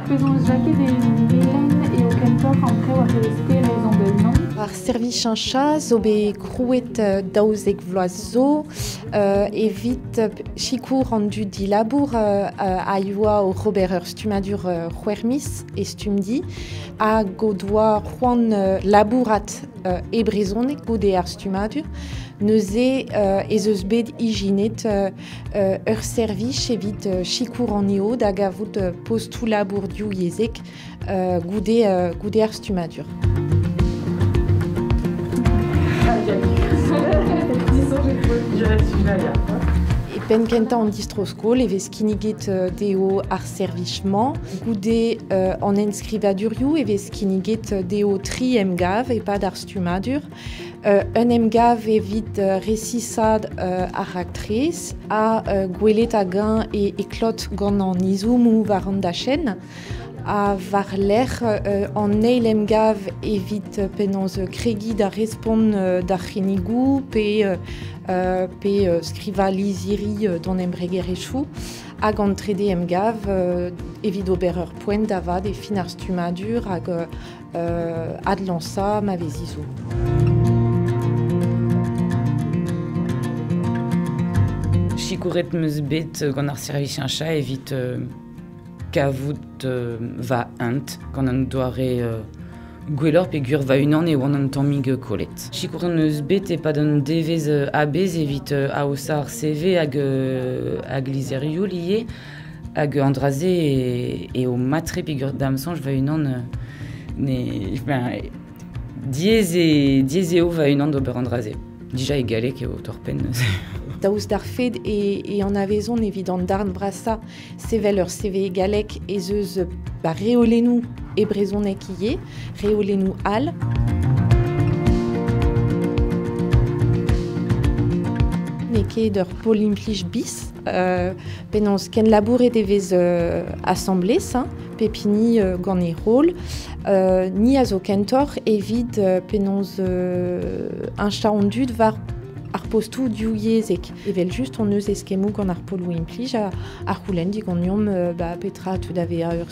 Penaos Jaked e Melen eo kentoc'h an traoù a vez sterez an deiz-mañ? Ar servichañ chas zo bet krouet daouzek vloaz zo evit sikour an dud dilabour a yoa oc'h ober ur stummadur c'hwermis e Stumdi hag o doa c'hoant labourat e brezhoneg goude ar stummadur. Neuze ez eus bet ijinet ur servij evit sikour an EO da gavout postoù labourioù yezhek goude, goude ar stummadur. penn kentañ an distro-skol e vez kinniget euh, dezho ar servij-mañ. Goude euh, an enskrivadurioù e vez kinniget dezho tri emgav e-pad ar stummadur. Un emgav evit resisaat ar raktres ha gwelet hag-eñ e klot gant an izommoù war an dachenn ha war-lerc'h an eil emgav evit penaos kregiñ da respont d'ar c'hinnigoù pe pe skrivañ lizhiri d'hon embregerezhioù hag an trede emgav evit ober ur poent da vat e fin ar stummadur hag adlañsañ ma vezi zo. Sikouret 'm eus bet gant ar servisiaña evit kavout va hent gant an doare gwelloc'h peogwir va-unan eo an tammig kollet. Sikouret 'm eus bet e-pad un devezh a-bezh evit aozañ ar CV hag hag lizherioù ivez. Hag an dra-se eo mat-tre peger da'm soñj va-unan ne... ben, diaes eo, diaes eo va-unan d'ober an dra-se. Dija e galleg eo torr-penn. Daoust d'ar fed e, an avezon evit an darn vrasañ sevel ur CV galleg ez eus ba, reolennoù e brezhoneg ivez, reolennoù all. N'eo ket ur pol implij bis, penaos kenlabouret e vez asambles, hein, pep hini gant e rol. ni a zo kentoc'h evit penaos heñchañ an dud war ar postoù divyezhek. Evel-just hon eus eskemmoù gant ar poloù implij a, a c'houlenn diganeomp ba, petra a teu da vezañ ur